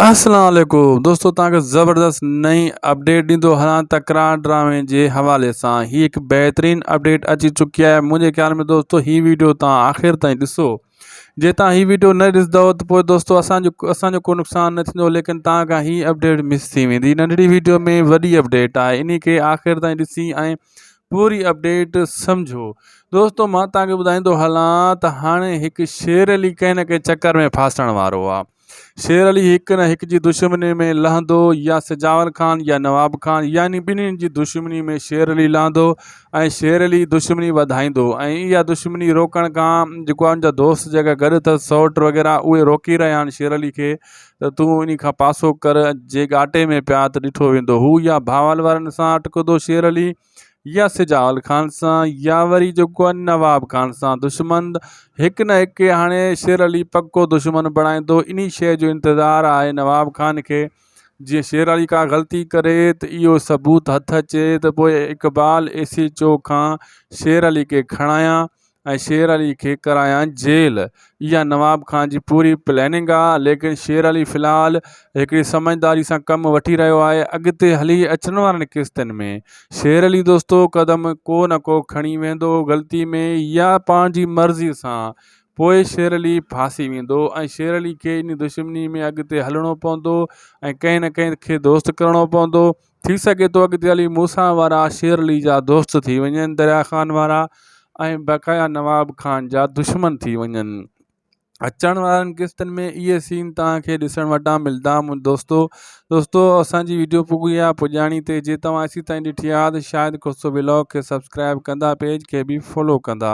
السلام عليڪم دوستو توهان کي زبردست نئين اپڊيٽ ڏيندو هلان تڪرار ڊرامي جي حوالي سان هي هڪ بهترين اپڊيٽ اچي چڪي آهي منهنجي خيال ۾ دوستو هي ويڊيو توهان آخر تائين ڏسو جي توهان هي ويڊيو نه ڏسندو ته پوء دوستو اسان جو اسان جو ڪو نقصان نه ٿيندو ليڪن توهان کان هي اپڊيٽ مس ٿي ويندي ننڍڙي ويڊيو ۾ وڏي اپڊيٽ آهي انهي کي آخر تائين ڏسي ۽ پوري اپڊيٽ سمجھو دوستو مان توهان کي ٻڌائيندو هلان ته هاڻي هڪ شير علي ڪنهن نه ڪنهن چڪر ۾ ڦاسڻ وارو آهي شير علي هڪ نه هڪ جي دشمني ۾ لهندو يا سجاول خان يا نواب خان يعني ٻنهين جي دشمني ۾ شير علي لهندو ۽ شير علي دشمني وڌائيندو ۽ اها دشمني روڪڻ کان جيڪو ان جا دوست جيڪا گڏ اٿس سئوٽ وغيره اهي روڪي رهيا آهن شير علي کي ته تون انهي کان پاسو ڪر جي ڳاٽي ۾ پيا ته ڏٺو ويندو هو يا بهاول وارن سان اٽڪندو شير علي يا سجاول خان سان يا وري جيڪو آهي نواب خان سان دشمن هڪ نه هڪ هاڻي شير علي پڪو دشمن بڻائيندو انهي شيء جو انتظار آهي نواب خان کي جي شير علي ڪا غلطي ڪري ته اهو ثبوت هٿ اچي ته پوء اقبال ايسيچو کان شير علي کي کڻايان ۽ شير علي کي ڪرايان جيل. اها نواب خان جي پوري پليننگ آ ليڪن شير علي في الحال هڪڙي سمجهداري سان ڪم وٺي رهيو آهي اڳتي هلي اچڻ وارن قسطن ۾ شير علي دوستو قدم ڪو نه ڪو کڻي ويندو غلطي ۾ يا پنهنجي مرضي سان پوء شير علي ڦاسي ويندو ۽ شير علي کي انهي دشمني ۾ اڳتي هلڻو پوندو ۽ ڪنهن نه ڪنهن کي دوست ڪرڻو پوندو ٿي سگهي ٿو اڳتي هلي مون سان وارا شير علي جا دوست ٿي وڃن دريا خان وارا ۽ بقايا نواب خان جا دشمن ٿي وڃن اچڻ وارن قسطن ۾ اهي سين توهان کي ڏسڻ وٽان ملدا مون دوستو دوستو اسانجي ويڊيو پڳي آ پڄاڻي تي جي توهان اسين تائين ڏٺي آ ته شايد ڪوسو ولاگ کي سبسڪرائب ڪندا پيج کي به فالو ڪندا